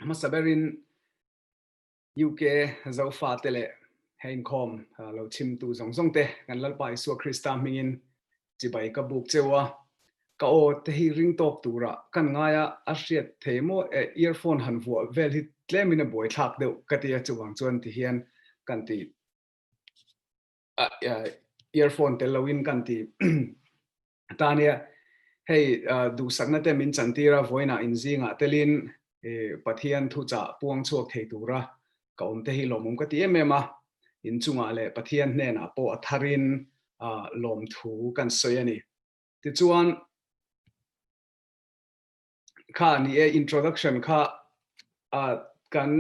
Hmasa berin UK Zofate leh he inkhawm lo chimtu zawng zawng te kan Lalpa Isua Krista hmingin chibai ka buk cheu a. Ka aw te hi ring tawk tura kan ngai a a hriat thei maw e earphone han vuah vel hi tlemin a buai thlak deuh ka ti a chuvang chuan tihian kan ti a earphone tel lo in kan ti Tania, Hei duhsakna te min chan tir a, vawiinah in zingah telin Pathian thuchah puang chhuak thei tura ka awm te hi lawmawm ka ti em em a, in chungah leh Pathian hnenah pawh a tharin lawm thu kan sawi a ni. Tichuan. kha a ni e, introduction kha kan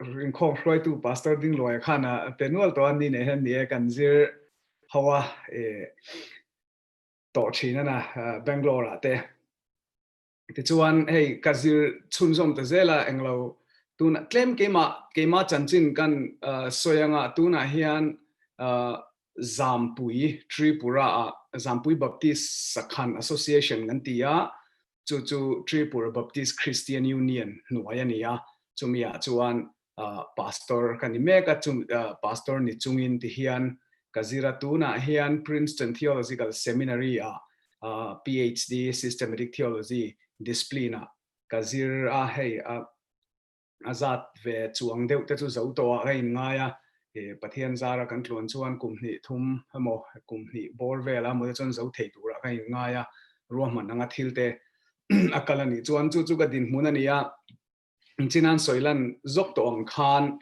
rinkhawm hruaitu Pastor Ding Luai khan a pe nual tawh a, ni nei hian ni e kan zir ho a, tawh thin a na Bangalore ah te. Tichuan hei ka zir chhunzawm ta zel a englo tunah tlem keimah keimah chanchin kan sawi anga tunah hian Zampui, Tripura-a Zampui Baptist Sakhan Association kan ti a, chu chu Tripura Baptist Christian Union hnuai a ni a, chumi ah chuan Pastor ka ni mek a, chu Pastor ni chungin ti hian ka zir a, tunah hian Princeton Theological Seminary ah PhD, Systematic Theology, discipline ah ka zir a, hei a a zat ve chuang deuh te chu zo tawh ah ka in ngai a, he Pathian zar a kan tluan chuan kum hnih thum emaw kum hnih bawr vel a maw te chuan zo thei tur ah ka in ngai a, ruahman anga thil te a kal a nih chuan chu chu ka dinhmun a ni a, Chinan Sawilan zawk tawh ang khan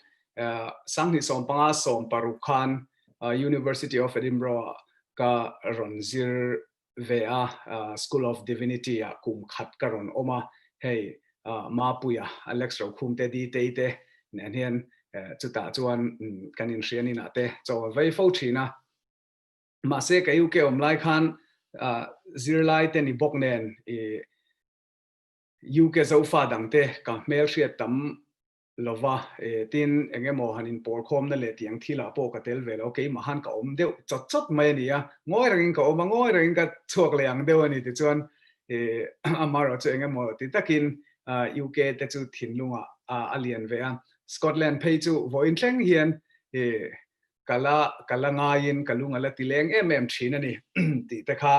Sanghnih sawm panga sawm paruk khan University of Edinburgh ah ka rawn zir ve a, School of Divinity ah kum khat ka rawn awm a, hei Mapuia, Alex Rokhum te Ditei te nen hian chutah chuan kan inhrian inah te chaw a vei fo thin a. Mahse ka UK awm lai khan zirlai te ni bawk nen UK Zofa dangte ka hmelhriat tam lo va, eh, tin eng emaw han inpawrkhawmna leh tiang thilah pawh ka tel ve lo, keimahan ka awm deuh chawt chawt mai a ni a, ngawi rengin ka awm a, ngawi rengin ka chhuak leh ang deuh a ni tichuan, eh, amah erawh chu eng emaw ti takin, ah, UK te chu thinlungah, ah, a lian ve a, Scotland phei chu vawiin thleng hian, eh, ka la, ka la ngaiin ka lung a la ti leng em em thin a ni, tih te kha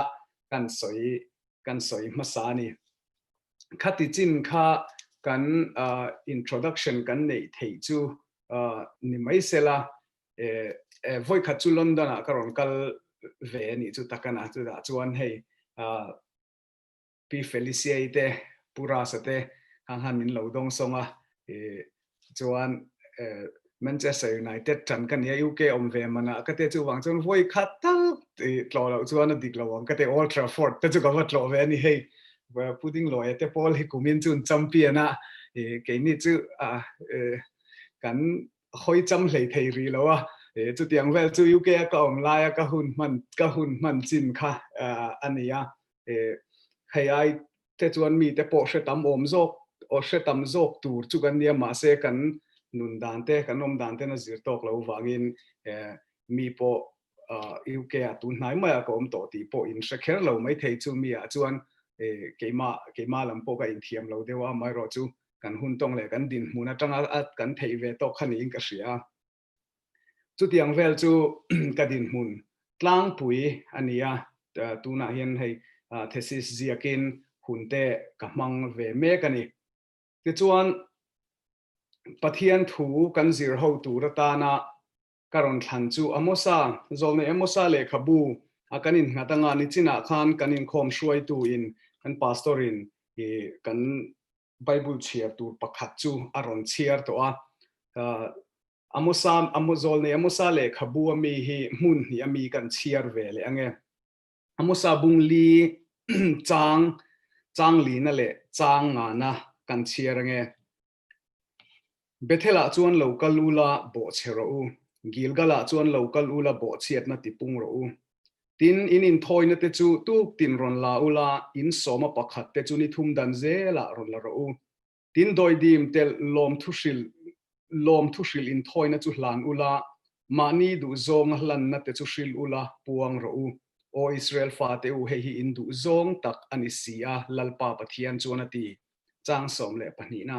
kan sawi, kan sawi hmasa a ni. khati chin kha kan introduction kan neih theih chu ni mai se la vawi khat chu London ah ka rawn kal ve anih chu tak ana chutah chuan hei Pi Felicia-i te Pu Rasa te kha khan min lo dawng sawng a chuan Manchester United tan ka nia UK awm ve mana ka te chu vang chuan vawi khat tak i tlawh loh chuan a dik lo ang ka te Old Trafford te chu ka va tlawh ve a ni hei Pudding Lawyer te pawl hi kum in chun champion a i keini chu a i kan hawi cham hlei thei rih lo a i chutiang vel chu UK a ka awm lai a ka hun hman ka hun hman chin kha a ni a i hei ai Te chuan mite pawh hre tam awm zawk, aw hre tam zawk tur chu kan nia mahse kan nun dan te, kan awm dan ten a zir tawk lo vangin mi pawh UK-a tun hnai maiah ka awm tawh tih pawh in hre kher lo mai thei chu miah chuan keimah keimah lam pawh ka inthiam lo deuh a, amaherawhchu kan hun tawng leh kan dinhmun atanga kan theih ve tawk kha niin ka hria. Chutiang vel chu ka dinhmun tlangpui a ni a, tunah hian hei thesis ziakin hun te ka hmang ve mek a ni. Tichuan, Pathian thu kan zir ho tur atana ka rawn thlan chu Amosa, Zawlnei Amosa lehkhabu a kan innghat anga nichinah khan kan inkhawm hruaitu in kan pastor in kan Bible chhiar tur pakhat chu a rawn chhiar tawh a, Amosa, Zawln nei Amosa lehkhabu a mi hi hmun hnih a mi kan chhiar ve leh ange. Amosa bung li chang, chang lina leh chang ngana kan chhiar ange. Bethel-ah chuan lo kal u la, bawh chhe rawh u, Gilgal-ah chuan lo kal u la, bawh chhiatna tipung rawh u. Tin, in inthawinate chu tuk tin rawn la u la, in sawma pakhatte chu ni thum dan zelah rawn la rawh u. Tin, dawidim telh lawm thuhril lawm thuhril inthawiina chu hlan u la, mahni duhzawnga hlannate chu hril u la, puang rawh u. Aw Israel fate u, hei hi in duhzawng tak a ni si a, Lalpa Pathian chuan a ti. Chang sawm leh pahnihna.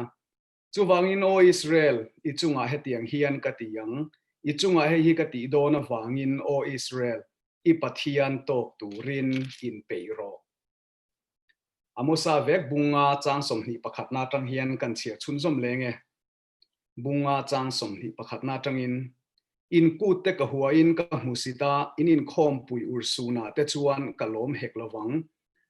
Chuvangin aw Israel, i chungah hetiang hian ka ti ang, i chungah hei hi ka tih dawn avangin aw Israel, i Pathian tawk turin in peih rawh. A Musa vek bunga chang sawmhnih pakhatna atang hian kan chhiar chhunzawm leng e. Bunga chang sawmhnih pakhatna atangin, in kutte ka huain ka hmu si ta, in inkhawmpui ursunah te chuan ka lawm hek lovang,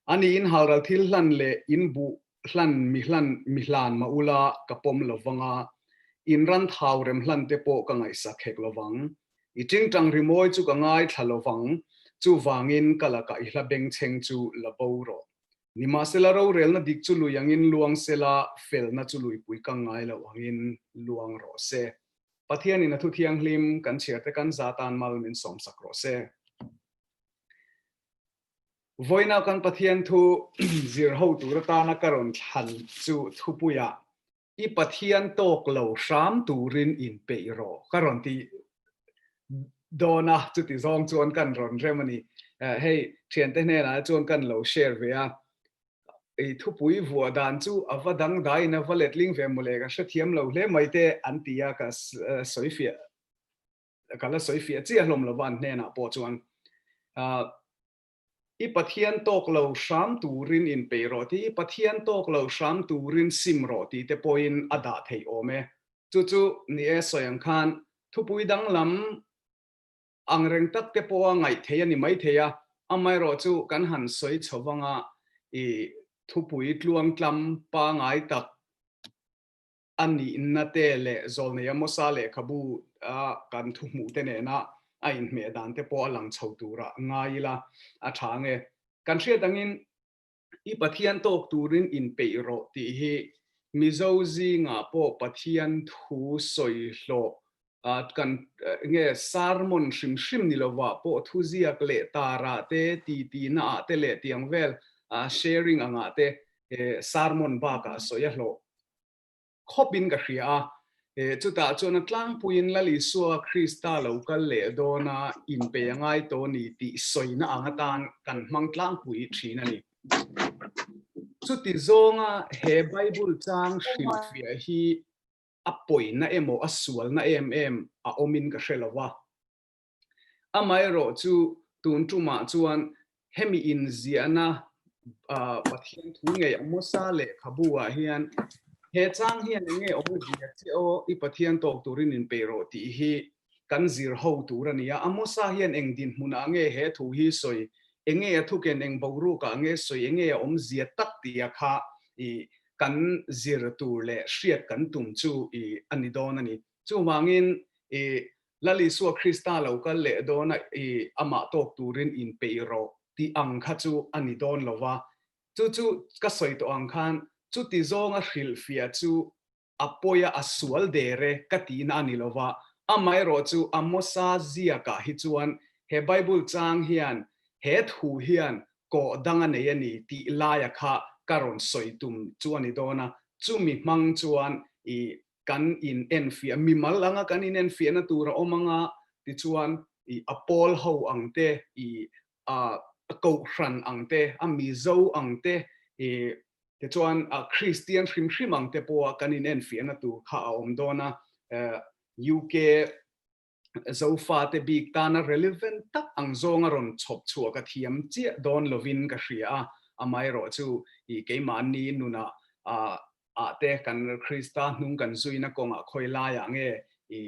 A ni in halral thil hlan leh in buh hlan mi hlan mi hlan mah ula ka pawm lo vang a, in ran thau rem hlan te pawh ka ngaihsak hek lo vang. I tingtang rimawi chu ka ngai thla lo vang, chu vang in ka lakah i hla beng chheng chu la bo rawh. Ni mah sela rorelna dik chu lui ang in luang sela felna chu lui pui kang ngai lo ang in luang rawh se. Pathian in a thu thianghlim kan chhiar te kan za tan mal min sawmsak rawh se. Vawiinah kan Pathian thu zir ho tur atana ka rawn thlan chu thupuia i Pathian tawk lo hram turin in peih rawh ka rawn ti dawn a, chuti zawng chuan kan rawn rem a ni. Hei thiante hnenah chuan kan lo share ve a, i thupui vuah dan chu a va dangdai in a va letling ve maw le ka hrethiam lo hle mai te an ti a ka sawifiah Ka la sawi fiah chiah hlawm lova an hnenah pawh chuan I Pathian tawk lo hram turin inpe rawh tih hi Pathian tawk lo hram turin sim rawh tih te pawhin a dah theih awm e. Chu chu ni e, sawi ang khan thupui danglam angreng tak te pawha ngaih theih a ni maithei a, amaherawh chu kan han sawi chho vanga i thupui tluangtlam pangai tak a nihna te leh zawlnei a mawsa lehkhabu a kan thu hmuh te nena a inhmeh dan te pawh a lang chho tura ngai ila a tha ang e. Kan hriat angin i Pathian tawk turin inpeih rawh tih hi Mizo zingah pawh Pathian thu sawi hlawh kan nge sarmon hrim hrim ni lovah pawh thuziak leh tarah te, tihtina ah te leh tiang vel sharing angah te he sarmon bakah sawi a hlawh khawpin ka hria a, eh, chutah chuan a tlangpuiin Lal Isua Krista lo kal leh dawna in pe a ngai tawh ni tih sawina ang atan kan hmang tlangpui thin a ni. Chuti zawnga he Bible chang hrilhfiah hi a pawina emaw a sualna em em a awmin ka hre lo a. Amaherawh chu, tun tumah chuan hemi inziahna Pathian thu ngei a hmasa lehkhabuah hian he chang hian enge awm a zia che aw, i Pathian tawk turin inpe rawh tih hi kan zir ho tur a ni a. A hmasa hian eng dinhmunah nge he thu hi sawi, enge a thuken eng boruakah nge sawi, enge a awm zia tak tia kha i kan zir tur leh hriat kan tum chu i a ni dawn a ni. Chuvangin i Lal Isua Krista lo kal leh dawna i Amah tawk turin in peih rawh tih ang kha chu a ni dawn lo va. Chu chu ka sawi tawh ang khan chuti zawnga hrilhfiah chu a pawi a, a sual der e ka tihna a ni lo va. Amaherawh chu a mawsa ziakah hi chuan he Bible chang hian he thu hian kawh dang a nei a ni tih laia kha ka rawn sawi tum chu a ni dawn a. Chumi hmang chuan i kan in enfiah, mimal anga kan in enfiahna tur a awm anga tichuan i a pawl ho ang te, i a kohhran ang te, a mizo ang te, i tichuan a kristian hrim hrim ang te pawha kan in enfiahna tur kha a awm dawn a. UK Zofate bik tana relevant tak ang zawnga rawn chhawp chhuah ka thiam chiah dawn lovin ka hria a, amaherawh chu i keimahni nuna ahte kan Krista hnung kan zuina kawngah khawilaiah nge i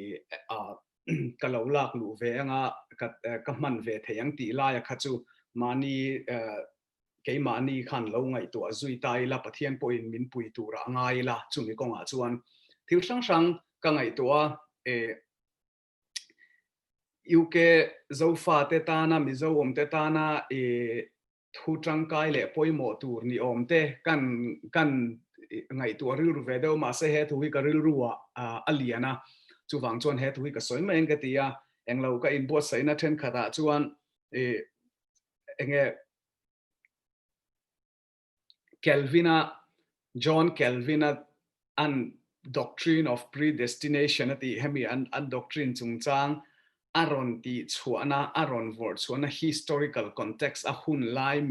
ka lo lak luh ve anga ka hman ve thei ang tih laia kha chu mahni Keimahni khan lo ngaihtuah zui ta ila Pathian pawhin min pui tura a ngai ila, chumi kawngah chuan thil hrang hrang ka ngaihtuah a, eh, UK Zofate tana, Mizo awmte tana eh, thu tangkai leh pawimawh tur ni awmte kan kan ngaihtuah rilru ve deuh mahse he thu hi ka rilruah a lian a, chuvang chuan he thu hi ka sawi mai ang ka ti a, englo ka inbuatsaihna thenkhatah chuan eh, enge Kelvin-a John Kelvin-a an doctrine of predestination a tih hemi an an doctrine chungchang a rawn tih chhuahna a rawn vawrh chhuahna historical context a hun lai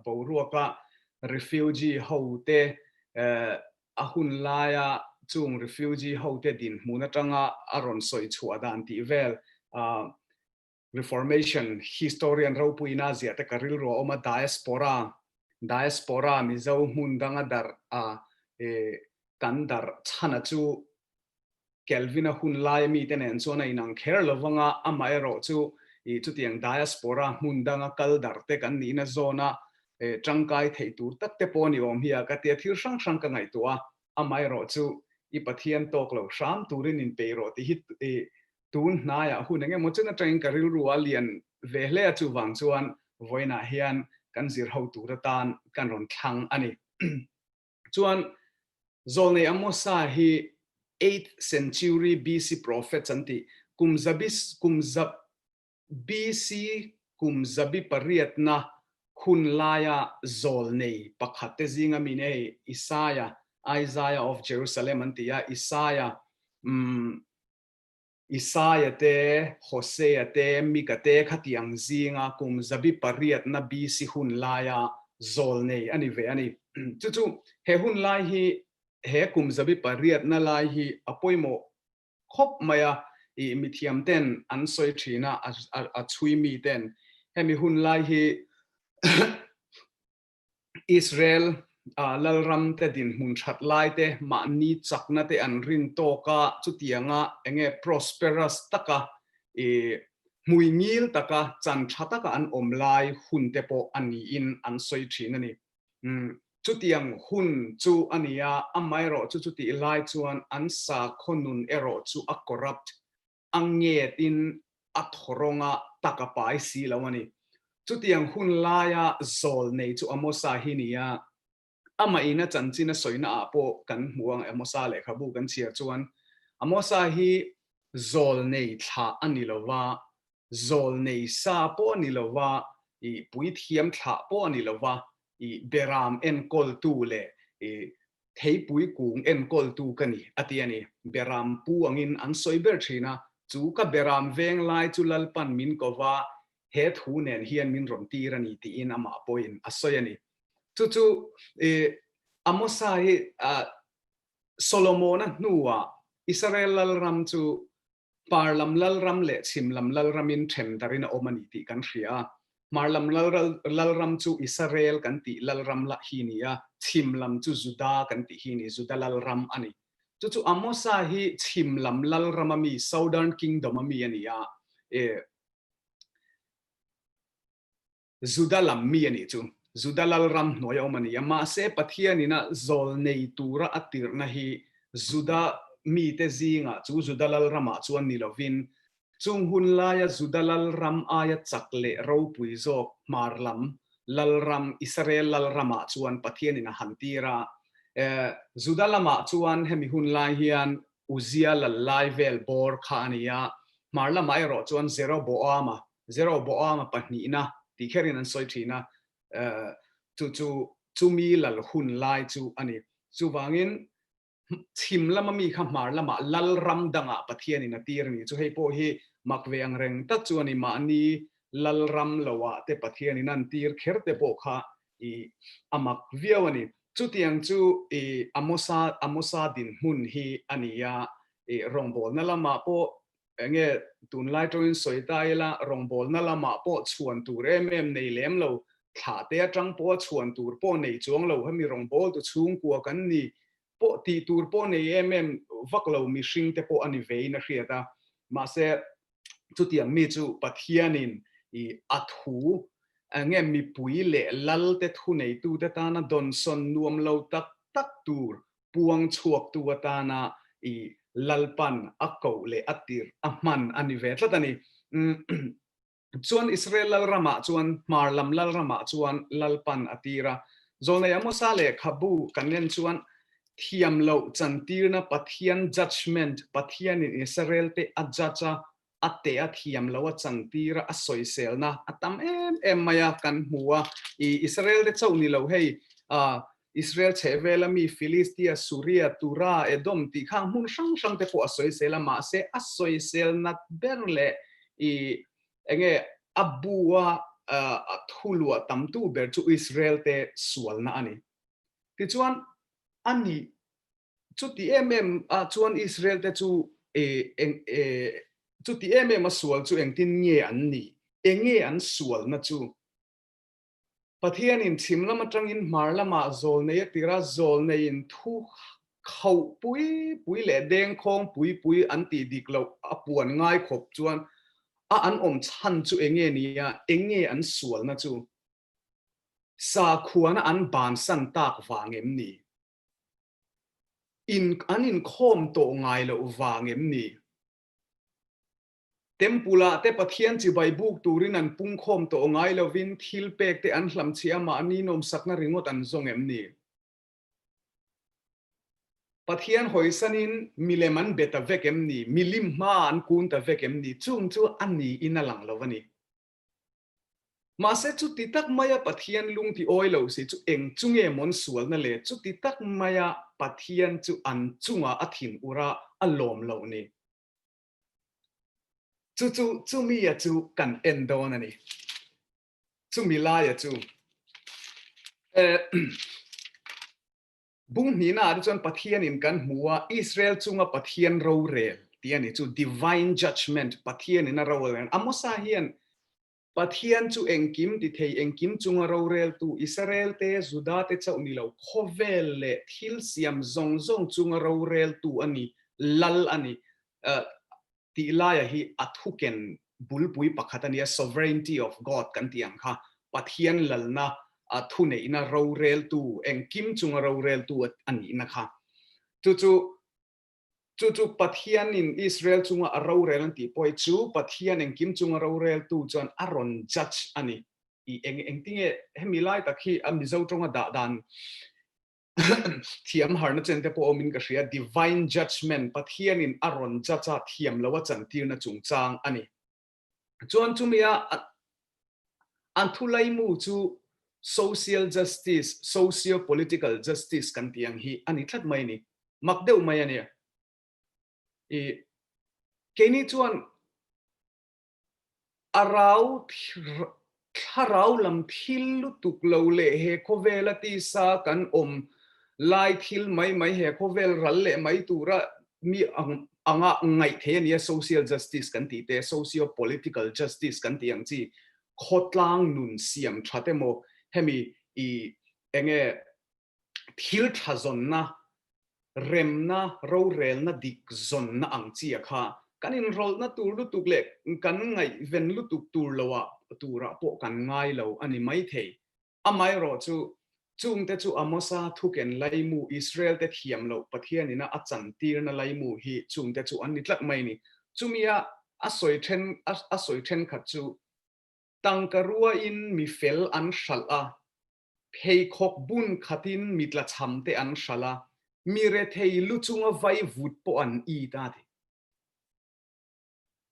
boruaka refugee ho te a hun laia chung refugee ho te dinhmun atanga a rawn sawi chhuah dan tih vel Reformation historian ropuina ziahte ka rilru a awm a, diaspora, diaspora, Mizo hmun danga darh a, e, kan darh chhana chu Kelvina hun laia mite nen chuan a inang kher lo vanga amah erawh chu i chutiang diaspora hmun danga kal darh te kan nihna zawna e, tangkai theih tur tak te pawh a ni awm hi a, ka tia thil hrang hrang ka ngaihtuah a, amah erawh chu i Pathian tawk lo hram turin inpei rawh tih hi e, tun hnaiah hun eng emaw chen atangin ka rilru a lian ve hle a, chuvang chuan vawiinah hian kan zirho tur atan kan rawn thlang a ni. Chuan Zawlnei Amosa hi eighth century BC prophets an tih, kum zabi kum zab BC kum zabi pariatna hun laia zawlnei pakhat te zinga min ei Isaiah, Isaiah of Jerusalem an ti a, Isaiah umm Isaiah te, Hosea te, Mika te kha tiang zinga kum zabi pariatna BC hun laia zawl nei a ni ve a ni. Chu chu, he hun lai hi he kum zabi pariatna lai hi a pawimawh khawp mai a, ih mithiamte'n an sawi thin a, a chhui mite'n hemi hun lai hi Israel a Lalramte dinhmun that laite mahni chaknate an rin tawk a, chutianga enge prosperous taka i hmui ngil taka chan tha taka an awm lai hunte pawh a niin an sawi thin a ni. Chutiang hun chu a ni a, amaherawhchu chutih lai chuan an sakhawnun erawh chu a corrupt a nge tin a thaw rawnga tak a pai si lo a ni. Chutiang hun laia zawl nei chu a mawsa hi nia, amaheina chanchin a sawina ah pawh kan hmu ang e. Mawsa lehkhabu kan chhiar chuan a mawsa hi zawl nei thla a ni lo va, zawl nei sa pawh a ni lo va, i puithiam thla pawh a ni lo va, i beram enkawltu leh i Theipui kung enkawltu ka ni, a ti a ni. Beram pu angin an sawi ber thin a, chu ka beram veng lai chu Lalpan min ko va, he thu nen hian min rawn tir a ni tiin amah pawhin a sawi a ni. Chu chu i Amosa hi Solomona hnuah Isarel lalram chu Par lam Lalram leh chhim lam Lalramin ṭhemdarin a awm a ni tih kan hria a. Hmar lam Lalram chu Isarel kan tih Lalram lah hi ni a, chhim lam chu Juda kan tih hi ni, Juda Lalram a ni. Chu chu Amosa hi chhim lam Lalram a mi, Southern Kingdom a mi a ni a. Ee. Juda lam mi a nih chu Juda lalram hnuai a awm a ni a, mahse Pathianin a zawl nei tura a tirhna hi Juda mite zingah chu Juda lalramah chuan ni lovin, chung hun laia Juda lalram aia chak leh ropui zawk hmar lam lalram Israel lalramah chuan Pathianin a han tir a. Juda lamah chuan hemi hun lai hian Uzziah lal lai vel bawr kha a ni a, hmar lamah erawh chuan Jeroboam-a Zero bawanga pahnihna tih kher in an sawi thin a, chu chu chumi lal hun lai chu a ni. Chuvangin chhim lama mi kha hmar lama Lalram dangah Pathianin a tir ni chu hei pawh hi mak ve ang reng tak chu a ni. Mahni Lalram loah te Pathianin an tir kher te pawh kha i a mak viau a ni. Chutiang chu i Amosa Amosa dinhmun hi a ni a, i rawngbawlna lamah pawh Enge tunlai tawngin sawi ta ila, rawngbawlna lamah pawh chhuan tur em em nei lem lo, thlah te atang pawha chhuan tur pawh nei chuang lo, hemi rawngbawltu chhungkua kan ni pawh tih tur pawh nei em em vak lo mihring te pawh a ni veiin a hriat a. Mahse, chutiang mi chu Pathianin i a thu enge mipui leh lalte thuneitute tana dawnsawn nuam lo tak tak tur puang chhuaktu atana i lalpan a koh leh a tirh a hman a ni ve tlat a ni. Chuan Israel Lalramah chuan hmar lam Lalramah chuan lalpan a tir a. Zawlnei Amosa leh Khabu kan nen chuan thiam loh chantirna Pathian judgement, Pathianin Israel te a judge a a teh a thiam lo a changtir a, a sawiselna a tam em em mai a kan hmu a, i Israel te chauh ni lo hei a Israel chhehvel a mi Philistia, Suria, Tura, Edom tih khang hmun hrang hrang te pawh a sawisel a mahse a sawisel nat ber leh i eng nge a bu a a thu luah tam tu ber chu Israel te sualna a ni. Tichuan a nih Chuti em em ah chuan Israel te chu eng chuti em em a sual chu engtin nge an ni? Enge an sualna chu? Pathianin chhim lam atangin hmar lamah zawl nei a tir a, zawl neiin thu khauh pui pui leh deng khawng pui pui an tih dik loh a puan ngai khawp chuan a an awm chhan chu enge ni a? Enge an sualna chu? Sakhuana an bansan tak vang em ni? in an inkhawm tawh ngai loh vang em ni? Temple ah te Pathian chibai buk turin an pungkhawm tawh ngai lovin thil pek te an hlam chhiah amah an ninawmsakna ringawt an zawng em ni? Pathian hawisanin milem an be ta vek em ni? Milim hma an kun ta vek em ni? Chung chu a niin a lang lo a ni. Mahse, chuti tak maia Pathian lung ti awi lo si chu eng chu nge mawn sualna le? Chuti tak maia Pathian chu an chungah a thin ura a lawm lo ni. Chu chu chumia chu kan en dawn a ni. Chumi laia chu, eh, Bunghnihnah te chuan Pathianin kan hmu a, Israel chunga Pathian rorel tih a ni chu, Divine Judgement, Pathianin a rorel. A Mosa hian Pathian chu engkim tithei, engkim chunga roreltu, Israel te, Juda te chauh ni lo, khawvel leh thil siam zawng zawng chunga roreltu a ni, lal a ni. tih laia hi a thuken bulpui pakhat a nia, sovereignty of God kan tih ang kha, Pathian lalna a thuneihna roreltu, engkim chunga roreltu a nihna kha. Chu chu, chu chu Pathianin Israel chunga a rorel an tih pawh hi chu Pathian engkim chunga roreltu chuan a rawn judge a ni. I eng engtinge hemi lai tak hi a Mizo tawnga dah dan thiam harna chen te pawh awmin ka hria a, divine judgement, Pathianin a rawn judge a thiam lo a chantirna chungchang a ni. Chuan chumia a thu laimu chu social justice, socio political justice kan tih ang hi a ni tlat mai a ni, mak deuh mai a nia. I keini chuan A rau thlarau lam thil lutuk lo leh he khawvela tisa kan awm lai thil mai mai he khawvel ral leh mai tura mi anga ngaih thei a nia, social justice kan tih te, socio political justice kan tih ang chi, khawtlang nun siam that emaw hemi ih enge thil tha zawnna, remna, rorelna dik zawnna ang chia kha kan inrawlhna tur lutuk leh kan ngaihven lutuk tur loah turah pawh kan ngai lo a ni maithei. Amaherawh chu, chungte chu Amosa thuken laimu, Israelte thiam loh Pathian ina a chantirna laimu hi chungte chu an ni tlat mai ni. Chumia a sawi then a sawi thenkhat chu, Tangka ruain mi fel an hralh a, Pheikhawk bun khatin mi tlachamte an hral a, mi rethei lu chunga vai vut pawh an i ta thei.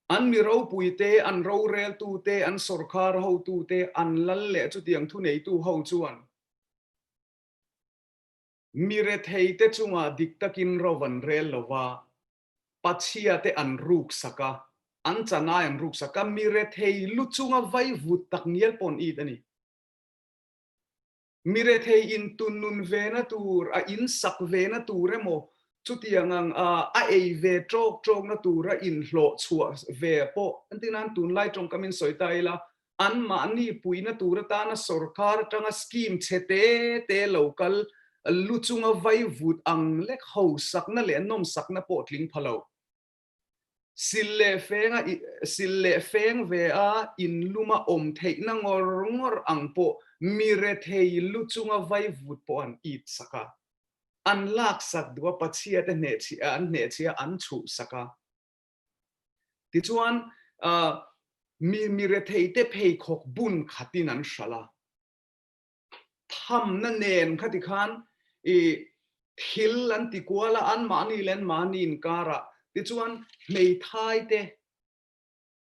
An mi ropuite, an roreltute, an sorkar hotute, an lal leh chutiang thuneitu ho chuan mi retheite chungah dik takin rauh an rel lo va, Pathiate an ruksak a, an chanai an ruksak a, mi rethei lu chunga vai vut tak ngial pawh an i ta ni. Mi rethei in tun nun vena tur, a in sak vena tur emaw, chutiang ang a a ei ve tawk tawkna tur a in hlawh chhuah ve pawh an ti nan tunlai tawngkam in sawi ta ila, an mahni puina tur atana sorkar atanga scheme chhe te te lo kal lu chunga vai vut ang lek hausakna leh nawmsakna pawh tling pha lo. Sil leh fênga sil leh fêng ve a in luma awm theihna ngawr ngawr ang pawh mi rethei lu chunga vaivut pawh an it sak a, an lak sak duh a, Pachiate hneh chhi an hneh chhia an chhuh sak a. Tichuan mi mi retheite pheikhawk bun khatin an hral a. thamna nen kha ti khan i thil an ti kual a, an mahni leh an mahni inkara tichuan hmeithai te,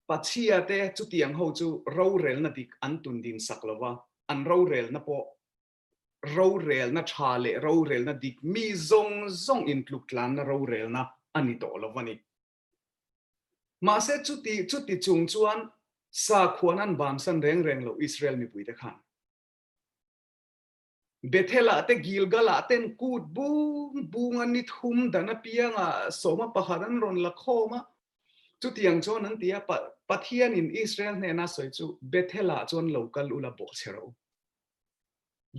pachhia te chutiang ho chu rorelna dik an tun din sak lo va, an rorelna pawh rorelna tha leh rorelna dik mi zawng zawng in tluktlanna rorelna a ni tawh lo va ni. Mahse, chuti chuti chung chuan sakhuan an vansan reng reng lo Israel mipuite khan. Bethel-ah te Gilgal-ah ten kut bung bunga ni thum dan apianga sawma pakhat an rawn la khawm a. Chutiang chuan an ti a, Pathianin Israel hnena sawi chu Bethel-ah chuan lo kal ula bawh chhe rawh u.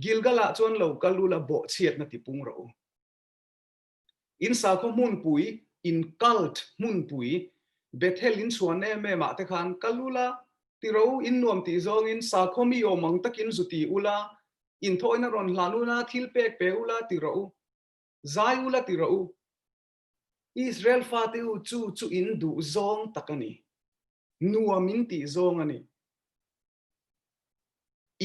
Gilgal-ah chuan lo kal ula bawh chhiatna tipung rawh u. In sakhaw hmunpui, in cult hmunpui, Bethel in chuan em em ah te khan kal ula, tiro in nuam tih zawngin sakhaw mi awm ang takin zu ti ula, in thawhina rawn hlan ula, thil pek pe ula ti rawh u, zai ula ti rawh u. Israel fate u chu chu in duh zawng tak a ni, nuam in tih zawng a ni.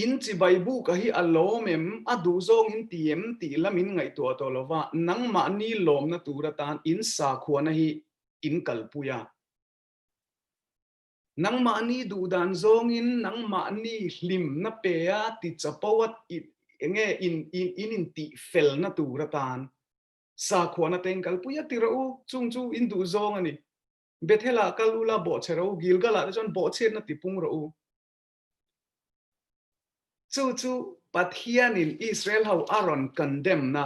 In chibai buk a hi a lawm em, a duh zawngin ti em tih la min ngaihtuah tawh lova, nangmah ni lawmna tur atan in sakhuana hi in kalpui a. Nangmah ni duh dan zawngin nangmah ni hlim na pe a ti chapo a enge in in intih fel na tur atan sakhuana te in kalpui a ti rawh u, chung chu in duh zawng a ni. Bethel-ah kal u la, bawhchhe rawh u, Gilgal-ah te chuan bawhchhiatna tipung rawh u. Chu chu Pathianin Israel ho a rawn condemn-na,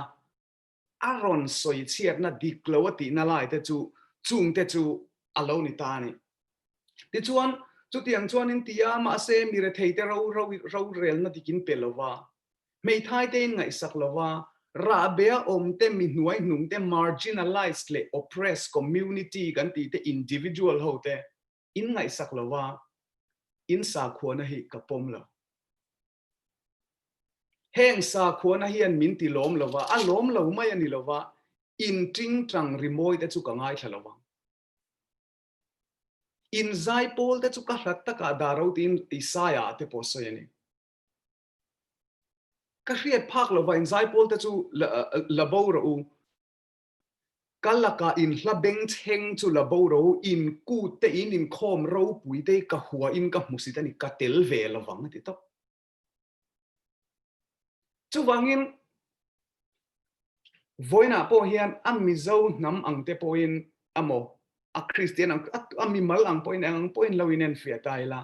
a rawn sawi chhiatna dik lo a tihna lai te chu chungte chu a lo ni ta a ni. Tichuan, chutiang chuan in ti a, mahse, mi rethei te ro, ro, rorelna dikin pe lova, Hmeithai te in ngaihsak lova, rahbea awm te, mi hnuai hnung te, marginalized leh oppressed community kan tih te, individual ho te in ngaihsak lova in sakhuana hi ka pawm lo. Heng sakhuana hian min ti lawm lova, a lawm lo mai a ni lova, in ṭing ṭang ri mawi te chu ka ngaithla lo vang. In zai pawl te chu ka hlat takah dah roti in i sai ah te pawh sawi a ni. Ka hriat phak lo vain zai pawl te chu la boro u. Ka laka in hla beng chheng chu la boro u, in kut te in in khawm ropui te ka hua in ka hmusit a ni, ka tel ve lo vang a ti tawp. Chuvangin vawiinah pawh hian a mizo hnam ang te pawh in emaw, a kristian ang, a mimal ang pawh in eng ang pawh in lo inenfiah ta ila.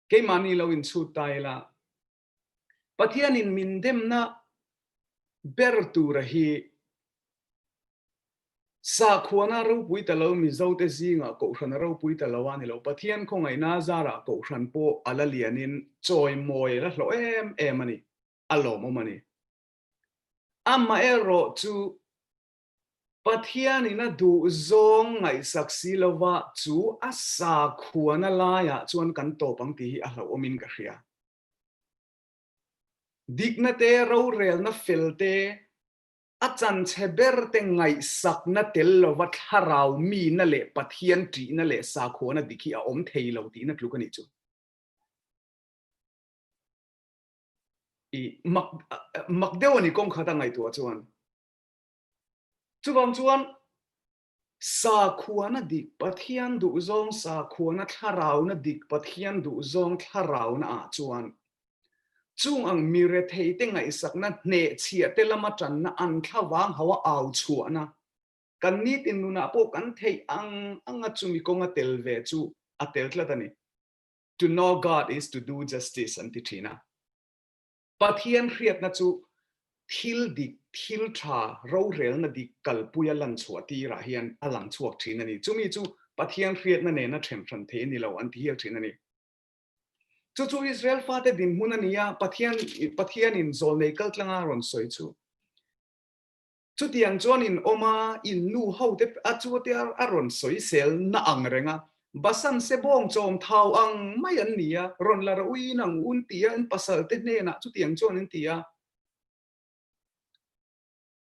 keimahni lo inchhut ta ila, Pathianin min demna ber tura hi sahkhuana ropui ta lo Mizote zingah kohhran a ropui ta lo a ni lo. Pathian khawngaihna zarah kohhran pawh a la lianin chawimawi a la hlawh em em a ni, a lawmawm a ni. Amaherawhchu Pathian in a duh zawng ngaihsak si lova chu a sakhuana laiah chuan kan tawp ang tih hi a hlauhawmin ka hria. Dikna te, rorelna fel te, a chanchhe ber te ngaihsakna tel lova thlarau mina leh Pathian ṭihna leh sakhuana dik hi a awm thei lo tihna tluk a nih chu. I, Mak, Makdeuani kawngkhata ngaihtuah chuan Chuvang chuan sakhuana dik Pathian duhzawng sakhuana thlarauna dik Pathian duhzawng thlarauna ah chuan chung ang mi retheite ngaihsakna hnehchhiahte lama tanna an thla vang ho a au chhuahna kan nitin nunah pawh kan theih ang anga chumi kawnga tel ve chu a tel tlat a ni. To know God is to do justice an ti thin a. Pathian hriatna chu thil dik, thil tha, rorelna dik kalpuia lanchhuah tirah hian a lang chhuak thin a ni. Chumi chu Pathian hriatna nena ṭhen hran thei a ni lo an ti hial thin a ni. Chu chu Israel fate dinhmun a ni a, Pathian, Pathianin zawlnei kaltlanga rawn sawi chu. Chutiang chuan in awma in nu ho te a chuate a rawn sawisel na ang reng a, Basan se bawng chawm thau ang mai an ni a, rawn la rauh in ang un ti a, in pasal te hnenah chutiang chuan in ti a.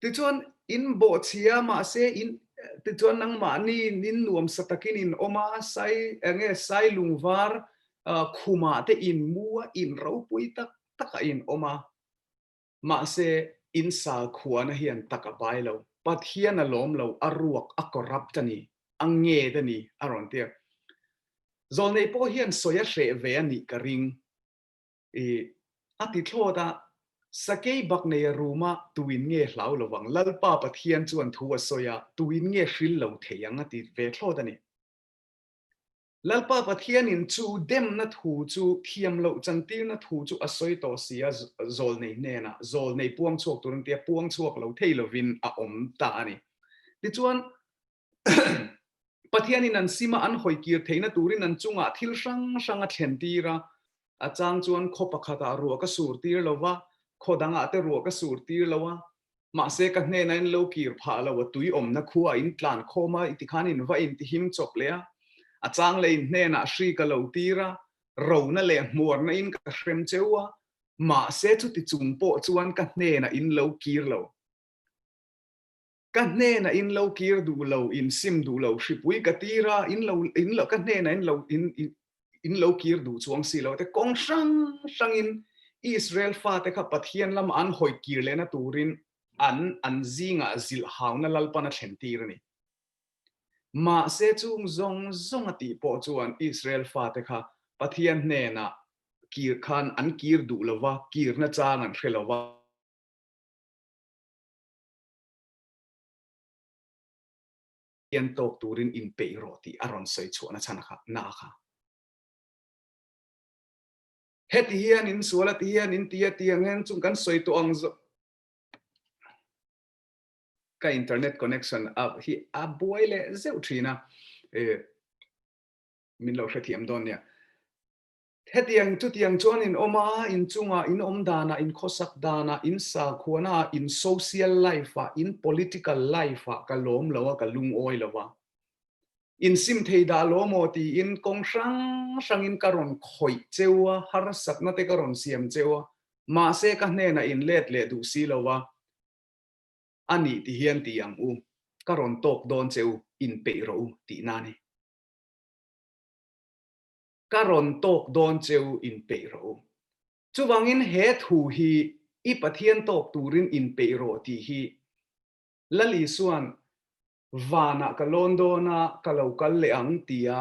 Tichuan in bawhchhia mahse in tichuan nangmahni in nuam sa takin in awm a, sai enge sai lungvar khumah te in mu a, in ropui tak takah in awm a. Mahse, in sal khuana hian tak a pai lo. Pathian a lawm lo, a ruak, a corrupt a ni, a ngêt a ni a rawn ti a. Zawl neih pawh hian sawi a hreh ve a nih ka ring. I, a ti thlawt a, sakei bak nei a rum a, tuin nge hlau lo vang? Lalpa Pathian chuan thu a sawi a, tuin nge hril lo thei ang? a ti ve thlawt a ni. Lalpa Pathianin chu demna thu chu thiam loh chantirna thu chu a sawi tawh si a, zawl nei hnenah zawl nei puang chhuak tur an tia puang chhuak lo thei lovin a awm ta a ni. Tichuan, Pathianin an sima an hawi kir theihna turin an chungah thil hrang hrang a thlentir a, A chang chuan khaw pakhatah ruah ka sur tir lo va, khaw dangah te ruah ka sur tir lo a. Mahse, ka hnena in lo kir phah lo a tui awmna khua a intlan khawm a, i tikhan in va intihim chawp leh a. A chang leh in hnenah hri ka lo tir a, rona leh hmuarna in ka hrem cheu a, mahse chuti chung pawh chuan ka hnena in lo kir lo. Ka hnena in lo kir duh lo, in sim duh lo, hripui ka tir a, in lo, in lo, ka hnena in lo, in, in, in lo kir duh chuang si lo. Te kawng hrang hrangin Israel fate kha Pathian lama an hawih kir lehna turin an, an zingah zilh hauna lalpan a thlentir a ni. Mahse, chung zawng zawnga tih pawh chuan Israel fate kha Pathian hnenah kir khan an kir duh lo va, kirna chang an hre lo va. Pian tawk turin in peih rawh tih a rawn sawi chhuah nachhan a kha, na a kha. Heti hian in sual a ti hian in ti a ti ang hian chung kan sawi tawh ang zawk. Ka internet connection a hi a buai leh zeuh thin a, ee min lo hrethiam dawn nia. Hetiang chutiang chuan in awm a, in chunga, in awm dana, in khawsak dana, in sakhuana, in social life a, in political life a ka lawm lo a, ka lungawi lo a. In sim thei dah lo maw tiin kawng hrang hrangin ka rawn khawih cheu a, harsatna te ka rawn siam cheu a, mahse ka hnenah in let leh duh si lo va, a nih ti hian ti ang u, ka rawn talk dawn che u, in peih rawh u tihna a ni. ka rawn tawk dawn cheu in peih rawh u. Chuvangin he thu hi i Pathian tawk turin in peih rawh tih hi Lal Isua'n vanah ka lawn dawn a, ka lo kal leh ang tia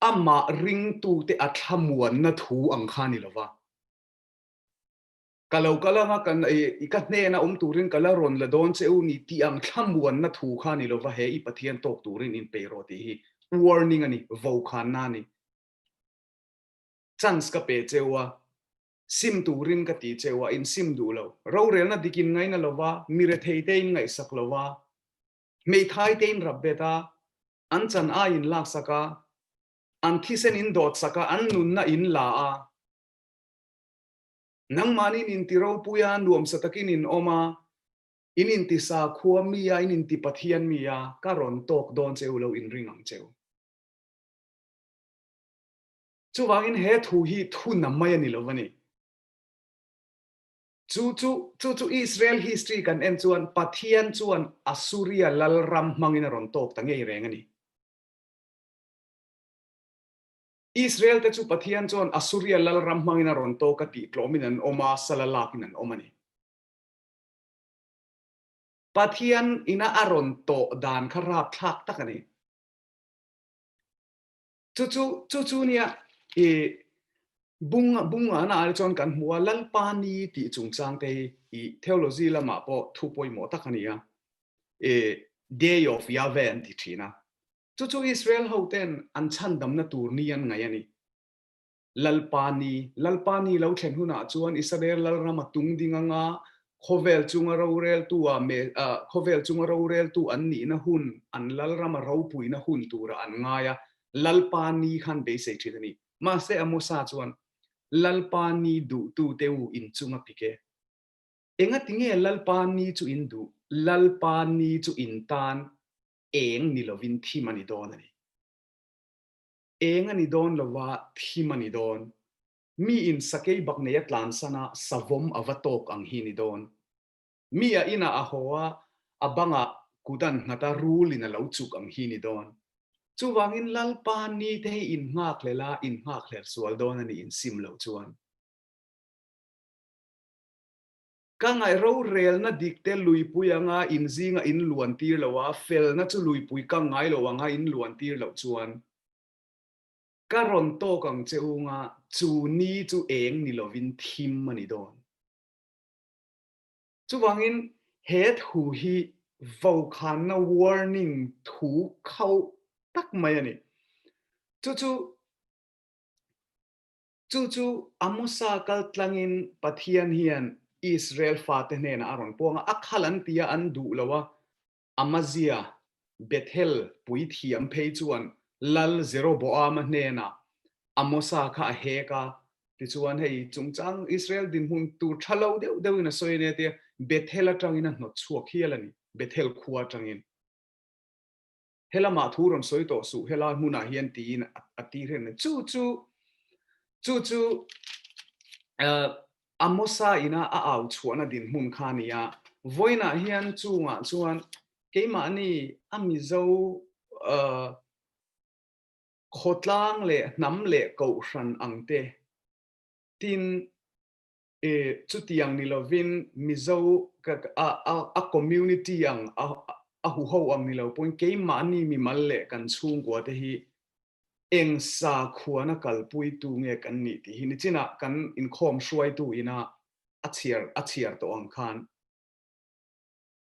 amah ringtute a thlamuanna thu ang kha a ni lo va. Ka lo kal ang a, ka i ka hnena awm turin ka la rawn la dawn che u ni tih ang thlamuanna thu kha ni lo va, he i Pathian tawk turin in pe rawh tih hi warning a ni, vokhanna a ni. Chance ka pe che u a, sim turin ka ti che u a, in sim duh lo. Rorelna dik in ngaina lo va, mi rethei te in ngaihsak lo va, hmeithai te in rap bet a, an chan ai in lak sak a, an thisen in dawt sak a, an nunna in la a, Nangmahni'n inti ropui a, nuamsa takin in awm a, in inti sa khua mi a, in inti Pathian mi a, ka rawn tawk dawn che u lo, in ring ang che u. Chuvangin he thu hi thuna mai a ni lo a ni. Chu chu, chu chu Israel history kan en chuan Pathian chuan Assuria Lalram hmangin a rawn tawk ta ngei reng a ni. Israelte chu Pathian chuan Assuria lal ram hmangin a rawn tawk a tih tlawmin an awm a, sala lakin an awm a ni. Pathian ina a rawn tawh dan kha rapthlak tak a ni. Chu chu chu chu nia i bung bungahna ah chuan kan hmu a, Lalpa ni tih chungchang te hi i theology lamah pawh thu pawimawh tak a ni a, i Day of Yahweh an ti thin a, Chu chu Israel hote'n an chhandamna tur ni an ngaih a ni. Lalpa ni, Lalpa ni lo thlen hunah chuan Isarael Lalram a tung ding anga khawvel chunga roreltua khawvel chunga roreltu an nihna hun, an Lalram a ropuina hun tura an ngai a, Lalpa ni khan beisei thin a ni. Mahse a Mosa chuan, Lalpa ni duhtute u inchung a pik e. Engatinge Lalpa ni chu in duh? Lalpa ni chu in tan, eng ni lovin thim a ni dawn a ni. Eng a ni dawn lova thim a ni dawn. Mi in sakei bak nei a tlan san a, savawm a va tawk ang hi a ni dawn. Mi a inah a haw a, a bangah kut an nghat a, rul in a lo chuk ang hi a ni dawn. Chuvangin Lalpa ni te hi innghakhel a, innghakhel sual dawn a ni in sim lo chuan. Ka ngaih rorelna dikte luipui anga inzinga in luan tir lo a, felna chu luipui ka ngai lo anga in luan tir loh chuan ka rawn tawk ang che unga chu ni chu eng ni lovin thim a ni dawn. Chuvangin he thu hi vokhanna warning thu khauh tak mai a ni. Chu chu Chu chu a Musa kal tlangin Pathian hian Israel fate hnenah a rawn puang a, a khal an tia an duh lo a. Amazia, Bethel puithiam phei chuan lal Jeroboama hnenah Amosa kha a hek a, tichuan hei chungchang Israel dinhmun tur tha lo deuh deuhin a sawi ania tia Bethel atangin a hnawt chhuak hial a ni, Bethel khua atangin. Helamah thu rawn sawi tawh suh helai hmunah hian tiin a tir hen chu chu chu chu Amosa ina a au chhuahna dinhmun kha a ni a. Vawiinah hian chungah chuan keimahni a mizo khawtlang leh hnam leh kohhran ang te tin E, chutiang ni lovin Mizo a community ang a huho ang ni lo pawhin keimahni mimal leh kan chhungkua te hi eng sa khuana kalpuitu nge kan nih tih hi nichinah kan inkhawm hruaitu ina a chhiar a chhiar tawh ang khan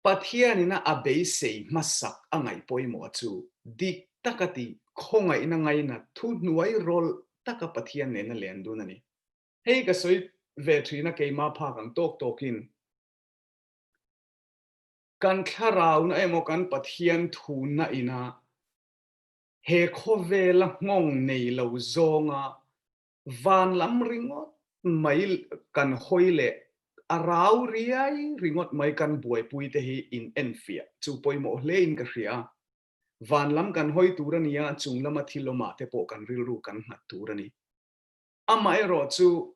Pathianin a a beisei hmasak a ngaih pawimawh chu dik taka ti, khawngaihna ngaina, thuhnuai rawlh taka Pathian nena len dun a ni. Hei ka sawi ve thin a keima phak ang tawk tawkin kan thlarauna emaw kan Pathian thuna ina he khawvela nghawng nei lo zawnga van lam ringawt mai kan hawi leh a rau riai ringawt mai kan buaipui te hi in enfiah chu pawimawh hle in ka hria. Van lam kan hawi tur a nia chunglama thil awmah te pawh kan rilru kan nghat tur a ni. Amaherawh chu,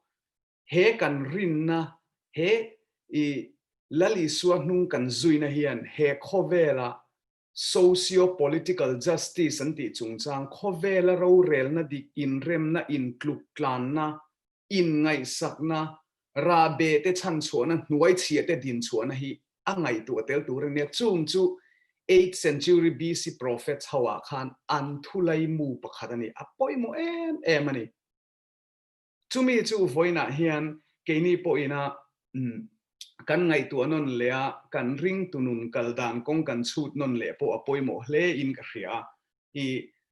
he kan rinna, he i Lal Isua hnung kan zuina hian he khawvela socio-political justice an tih chungchang khawvela rorelna dik inremna, intluk tlanna, inngaihsakna, raa behte chhanchhuahna hnuai chhiahte dinchhuahna hi a ngaihtuah tel tur a nia. Chung chu eighth century BC prophets hoah khan an thulai mu pakhat a ni. A pawimawh em em a ni. Chumi chu vawiinah hian keini pawhina kan ngaihtuah nawn leh a, kan ringtunun kal dan kawng kan chhut nawn leh pawh a pawimawh hle in ka hria a, i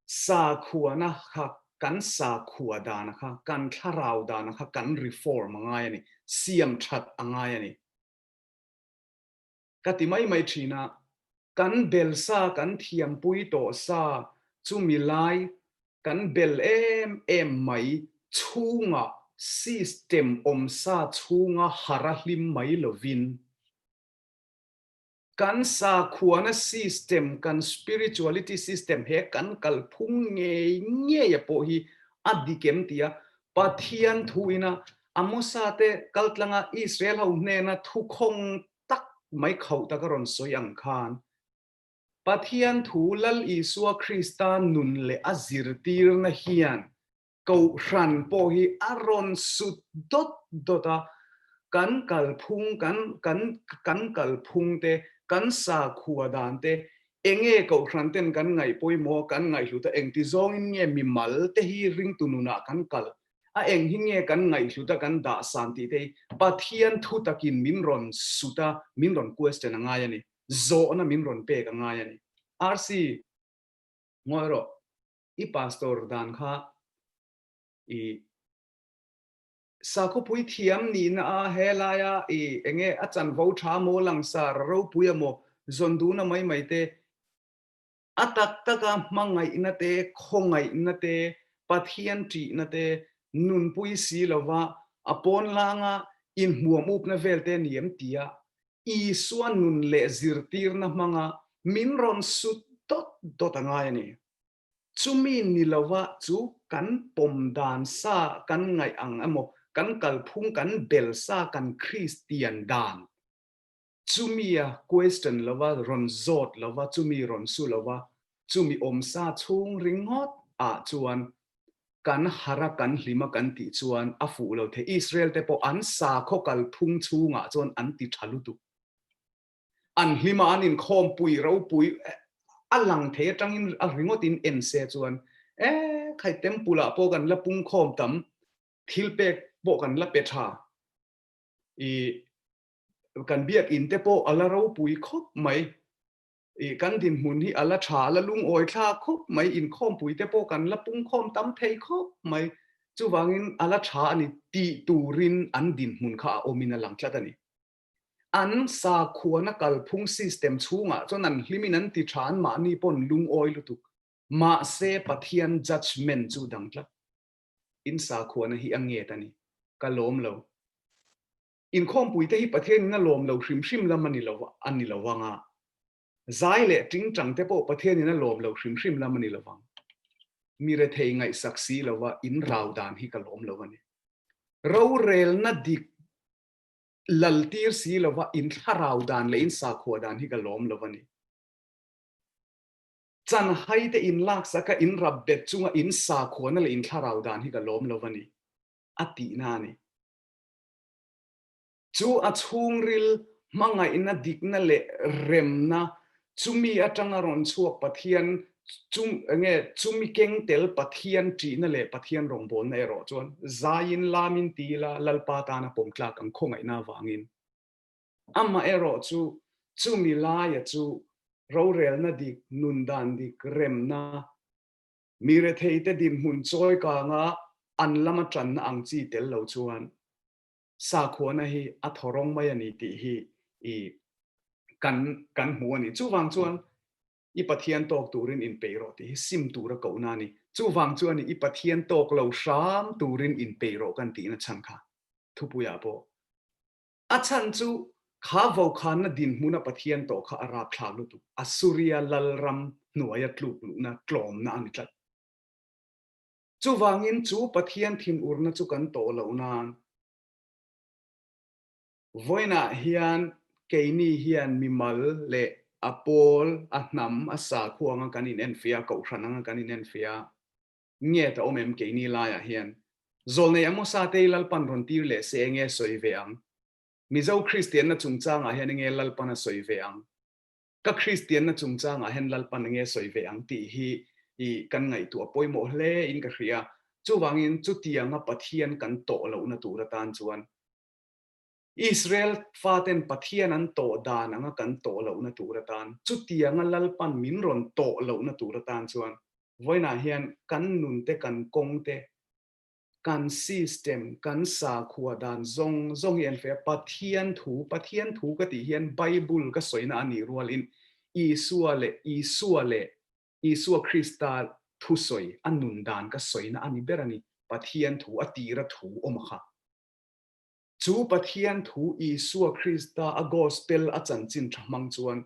sakhuana kha kan sakhua dana kha, kan thlarau dana kha kan reform a ngai a ni, siam that a ngai a ni. Ka ti mai mai thin a, kan bel sa, kan thiampui tawh sa chu milai kan bel em em mai chhunga system awm sa chhunga har a hlim mai lovin, Kan sakhuana system, kan spirituality system he kan kalphung ngei ngeia pawh hi a dik em tia Pathian thu ina Amosa te kaltlanga Israel ho hnena thukhawng tak mai khauh taka rawn sawi ang khan Pathian thu Lal Isua Krista nun leh a zirtirna hian Kohhran pawh hi a rawn sut dawt dawt a, kan kalphung, kan kan kan kalphung te, kan sakhua dan te, enge Kohhran ten kan ngaih pawimawh, kan ngaihhlut a, engti zawngin nge mimal te hi ringtu nunah kan kalh, a eng hi nge kan ngaihhlut a, kan dahsan tih te hi Pathian thu takin min rawn sut a, min rawn question a ngai a ni, zawhna min rawn pek a ngai a ni. Arsi, ngawi rawh. i pastor dan kha i sakawpui thiam nihna a he laia i enge a chanvo tha maw langsara ropui a maw zawn dun a mai mai te a tak taka hmangaihna te khawngaihna te Pathian ṭihna te nunpui si lova a pawn langa inhmuam upna vel te ni em tia Isua nun leh zirtirna hmanga min rawn sut dawt dawt a ngai a ni. Chumi ni lova chu kan pawm dan sa kan ngaih ang emaw, kan kalphung kan bel sa kan Kristian dan chumia question lova rawn zawt lova chumi rawn su lova chumi awm sa chhung ringawt ah chuan kan hara kan hlima kan tih chuan a fuh lo thei. Israel te pawh an sa khaw kalphung chhungah chuan an ti tha lutuk. an hnimah an inkhawm pui ropui a lang thei atangin a ringawtin en se chuan e khai temple ah pawh kan la pungkhawm tam thil pek pawh kan la pe tha i kan biakin te pawh ala ropui khawp mai i kan dinhmun hi ala tha ala lungawi thla khawp mai inkhawm pui te pawh kan la pungkhawm tam thei khawp mai chuvangin ala tha a ni tih turin an dinhmun kha a awmin a lang tlat a ni. An sakhuana kalphung system chhungah chuan an hlimin an ti tha anmahni paw'n lungawi lutuk. Mahse Pathian judgement chu dangtlak in sakhuana hi a nge ta ni? Ka lawm lo. Inkhawmpuite hi Pathianin a lawm lo hrim hrim lam a ni lo vang a, zai leh tingtangte pawh Pathianin a lawm lo hrim hrim lam a ni lo vang. Mi rethei ngaihsak si lova in rau dan hi ka lawm lo a ni. Rorelna dik lal tir si lova in thlarau dan leh in sakhua dan hi ka lawm lova ni. Chan hai te in laksa ka in rap bet chunga in sakhua na leh in thlarau dan hi ka lawm lova ni, a tih na a ni. Chu a chhungril hmangaihna dikna leh remna chumi atanga rawn chhuak Pathian chu nge chumi keng tel Pathian ṭihna leh Pathian rawngbâwlna erawh chuan zaiin lamin ti ila Lalpa tana pawm tlâk an khawngaihna avângin amah erawh chu chumi laia chu rorêlna dik, nun dan dik, remna, mi retheite dinhmun chawi kanga an lama ṭanna ang chi tel lo chuan sakhuana hi a thaw rawng mai a ni tih hi i kan kan hmu a ni. Chuvang chuan i Pathian tawk turin inpeih rawh tih hi sim tur a kohna a ni. Chuvang chuan i Pathian tawk lo hram turin inpeih rawh kan tihna chhan kha thupuiah pawh a chhan chu kha vokhanna dinhmuna Pathian tawh kha a rakthlak lutuk Assuria lalram hnuaia tluk luhna tlawmna a ni tlat. Chuvangin chu Pathian thinurna chu kan tawh loh nan, vawiinah hian keini hian mimal leh a pawl, a hnam, a sakhua anga kan inenfiah a, kohhran anga kan inenfiah a, nge ta awm em keini laiah hian? Zawl nei emaw satei lalpan rawn tir leh se enge sawi ve ang? Mizo Kristianna chungchangah hian enge lalpana sawi ve ang? Ka Kristianna chungchangah hian lalpan enge sawi ve ang tih hi i kan ngaihtuah a pawimawh hle in ka hria. Chuvangin chutianga Pathian kan tawh lohna tur atan chuan Israel faten Pathian an tawh dan anga kan tawh lohna tur atan, chutianga lalpan min rawn tawh lohna tur atan chuan vawiinah hian kan nun te kan kawng te, Kan system, kan sakhua dan zawng zawng hi en feh a, Pathian thu, Pathian thu ka tih hian Bible ka sawina a nih rualin Isua leh Isua leh Isua Krista thusawi a nun dan ka sawina a ni ber a ni, Pathian thu, a tira thu awm a kha. Chu Pathian thu Isua Krista a Gospel a chanchin tha hmang chuan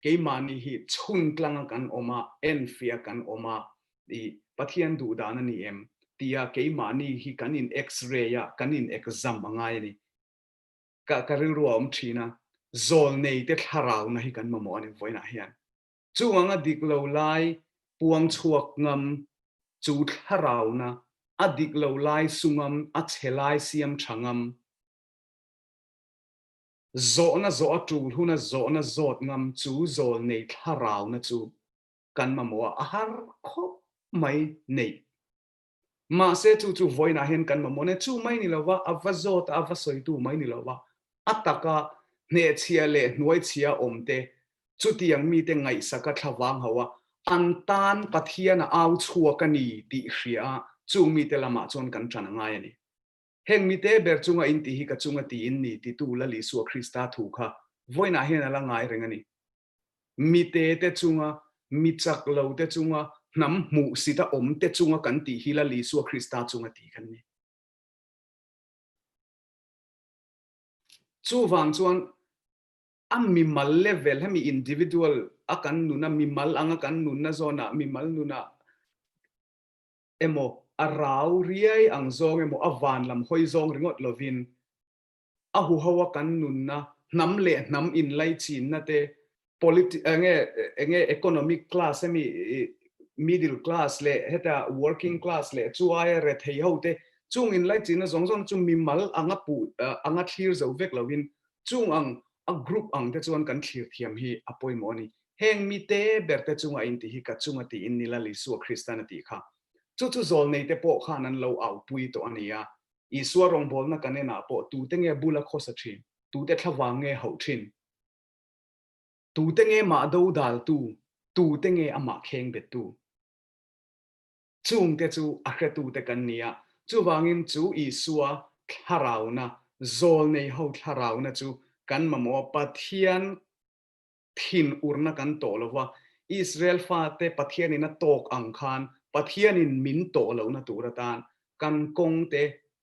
keimahni hi chhungtlanga kan awm a, enfiah kan awm a, i, Pathian duh dan a ni em? tia keimahni hi kan in x-ray a, kan in exam a ngai a ni. Ka ka rilru a awm thin a, zawlneite thlarau na hi kan mamawh a ni vawiinah hian. Chuang a dik lo lai puang chhuak ngam chu thlarauna a dik lo lai sungam a chhe lai siam tha ngam, zawhna zawh a tul hun a zawhna zawt ngam chu zawl nei thlarauna chu kan mamawha a har khawp mai neih Mahse chu chu vawiinah hian kan mamawh nen chu mai ni lova, a va zawt a, a va sawitu mai ni lova, a taka hnehchhia leh hnuaichhia awmte, chutiang mite ngaihsaka thlavang ho a, an tan Pathiana au chhuak a ni tih hria a, chung mite lamah chuan kan tan a ngai a ni. Heng mite ber chunga intih hi ka chunga tiin ni titu Lalisua Krista thu kha vawiinah hian a la ngai reng a ni. mite te chunga, mi chak lo te chunga, hnam hmuh sit a awm te chunga kan tih hi Lal Isua Krista chunga tih kan ni. Chuvang chuan a mimal level hemi individual a kan nuna, mimal anga kan nunna zawnah mimal nuna emaw, a rau riai ang zawng emaw, a vanlam hawi zawng ringawt lovin a huhoa kan nunna, hnam leh hnam inlai chinna te, politi eng nge eng nge economic class ami middle class leh heta working class leh chuaia rethei ho te chung inlai chinna zawng zawng te chu mimal anga pu anga thlir zo vek lohin chung ang a group ang te chuan kan thlir thiam hi a pawimawh a ni. Heng mite ber te chunga a inti hi ka chunga tiin nila Lisua Kristan a tih kha chu chu zawlneite pawh khan an lo aupui tawh a nia Isua rawngbawlna kan enah pawh tute nge bul a khawsa thin? Tute thlavang nge hauh thin? Tute nge mah do daltu? Tute nge a mah kheng bettu? Chungte chu a hretute kan ni a, chuvangin chu Isua thlarauna, zawlneiho thlarauna chu kan mamawh a, Pathian thin urna kan tawh lo va, Israel fate Pathianin a tawk ang khan Pathianin min tawh lohna tur atan kan kawngte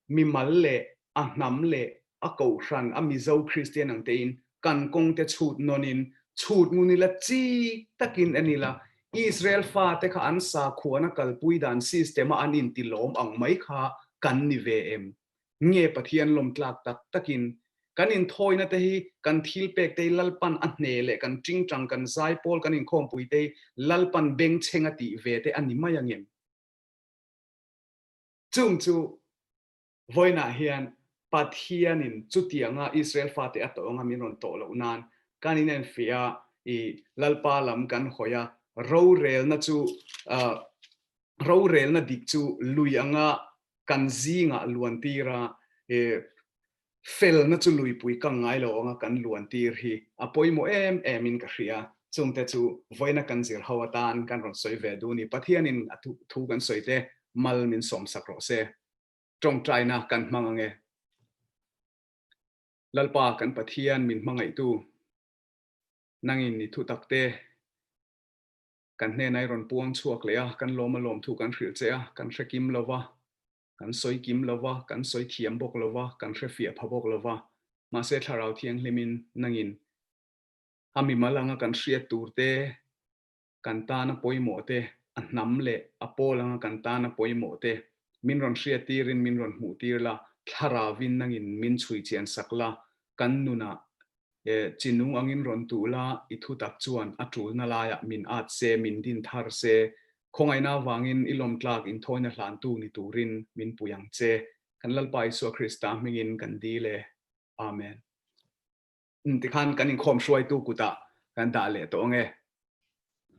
mimal leh a hnam leh a kohhran a Mizo Kristian ang tein kan kawngte chhut nawn-in chhut ngun ila chi takin en ila Israel fate kha an sakhuana kalpui dan system-a an inti lawm ang mai kha kan ni ve em? Nge Pathian lawmtlak tak takin kan inthawinate hi kan thilpekte-i Lalpan a hne leh kan tingtang, kan zaipawl, kan inkhawmpuite-i Lalpan bengchheng a tih ve te a ni mai angem? Chung chu vawiinah hian Pathianin chutianga Israel fate a tawng a min rawn tawh loh nan kan inenfiah a, ih Lalpa lam kan hawi a, rorelna chu Rorelna dik chu lui anga kan zingah luantir a, he felna chu luipui kang ngai lo anga kan luantir hi a pawimawh em em in ka hria a, chungte chu vawiina kan zir ho atan kan rawn sawi ve dun i Pathianin a thu kan sawi te mal min sawmsak rawh se. Tawngtaina kan hmang ange. Lalpa kan Pathian min hmangaihtu, nangin ni thutak te. Kan hnena i rawn puang chhuak leh a, kan lawma lawm thu kan hrilh che a, kan hre kim lo va, kan sawi kim lo va, kan sawi thiam bawk lo va, kan hre fiah pha bawk lo va. Mahse Thlarau Thianghlimin nangin a mimal anga kan hriat tur te, kan tana pawimawh te, a hnam leh a pawl anga kan tana pawimawh te, min rawn hriat tirin min rawn hmuh tir la, Thlarau-in nangin min chhui chian sak la, kan nunah He chinu angin rawn tuh la, i thu tak chuan a tulna laiah min at se, min din thar se. Khawngaihna avangin i lawmtlak inthawina hlantu ni turin min pui ang che. Kan Lalpa Isua Krista hmingin kan dil e. Amen. Tikhan kan inkhawm hruaitu kutah kan dah leh tawh ang e.